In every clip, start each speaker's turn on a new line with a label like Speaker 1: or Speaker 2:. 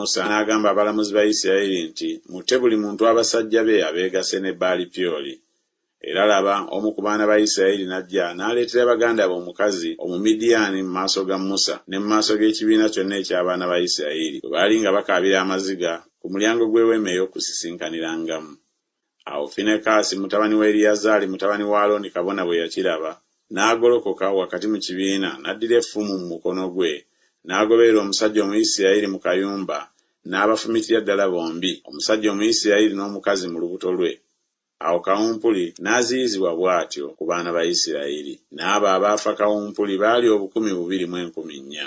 Speaker 1: Musa n'agamba abalamuzi ba Yisirayeli nti, Mutte buli muntu abasajja be abeegasse ne Baali-Pyoli. Era laba, omu ku baana ba Yisirayeli n'ajja n'aleetera baganda be omukazi Omumidiyaani mu maaso ga Musa ne mu maaso g'ekibiina kyonna eky'abaana ba Yisirayeli, bwe baali nga bakaabira amaziga ku mulyango gw'Eweema ey'Okusisinkanirangamu. Awo Finekaasi mutabani wa Eriyazaali mutabani wa Alooni kabona bwe yakiraba, n'agolokoka wakati mu kibiina, n'addira effumu mu mukono gwe, n'agoberera omusajja Omuyisirayeli mu kayumba, n'abafumitira ddala bombi, omusajja Omuyisirayeli n'omukazi mu lubuto lwe. Awo kawumpuli n'aziyizibwa bw'atyo ku baana ba Isirayiri. N'abo abaafa kawumpuli baali obukumi bubiri mu enkumi nnya.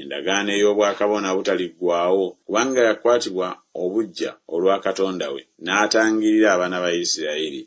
Speaker 1: Endagaano ey'obwakabona obutaliggwaawo, kubanga yakwatibwa obuggya olwa Katonda we, n'atangirira abaana ba Isiraeri.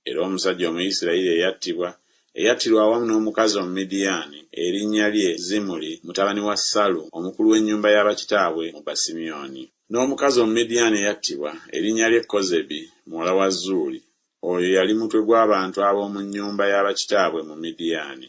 Speaker 1: Era omusajja Omuyisirayiri eyattibwa, eyattirwa awamu n'omukazi Omumidiyaani, erinnya lye Zimuri mutabani wa Salu, omukulu w'ennyumba ya bakitaabwe mu Basimyoni. N'omukazi Omumidiyaani eyattibwa, erinnya lye Kozebi muwala wa Zuuri, oyo yali mutwe gw'abantu ab'omu nnyumba ya bakitaabwe mu Midiyaani.